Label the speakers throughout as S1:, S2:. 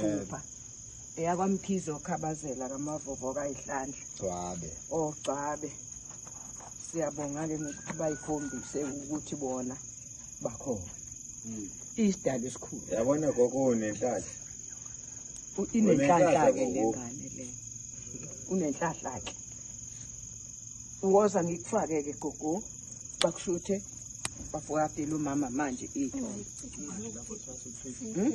S1: Phupha eyakwamkhize okhabazela kamavovo kayihlandla gcwabe
S2: ogcwabe
S1: siyabonga-ke ngokuthi bayikhombise ukuthi bona bakhona hmm. isidalo esikhulu yabona gogo
S2: unenhlahla inenhlahla-ke
S1: le ngane le unenhlahla-ke woza ngikufake-ke gogo bakushuthe bafokadela umama manje itho hmm?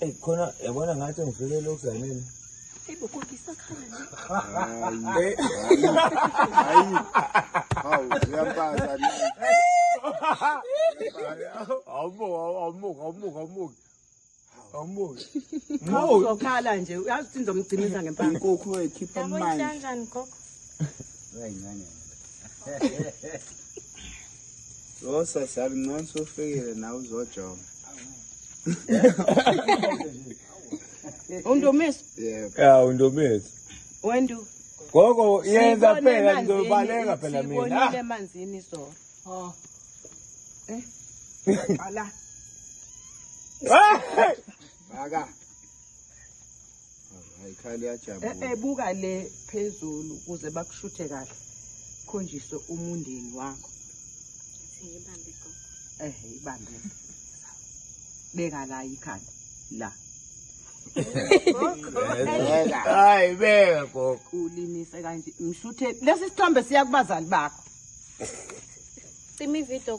S2: Eyi khona yabona ngathi ngifikele ukuzanini. Eyi bo
S3: kodwa isakhala
S2: nje. Hayi. Hayi. Hawu uyampaza ni. Awumo awumo awumo awumo. Awumo. Ngizokhala
S1: nje uyazi ukuthi ngizomgcinisa ngempama. Inkukhu ekhipha amanzi.
S4: Yabona kanjani
S3: gogo?
S4: Lo sesi alincane sofikile nawe uzojonga.
S1: Undomeso. Yeah. Ya
S4: undomeso.
S2: Wendu.
S1: Gogo
S2: yenza phela ngizobaleka phela mina. Sibonile emanzini
S1: so. Oh. Eh. Ala.
S4: Bhaka. Hayi khali yajabula. Eh, eh buka le
S1: phezulu ukuze bakushuthe kahle. Khonjise umundeni wakho.
S3: Siyibambe go. Eh, ibambe.
S1: Beka la ikhanda. La.
S2: Hayi beka gogo. Ulimise kanje.
S1: Ngishuthe lesi sithombe siya kubazali
S3: bakho.
S1: Cima ivideo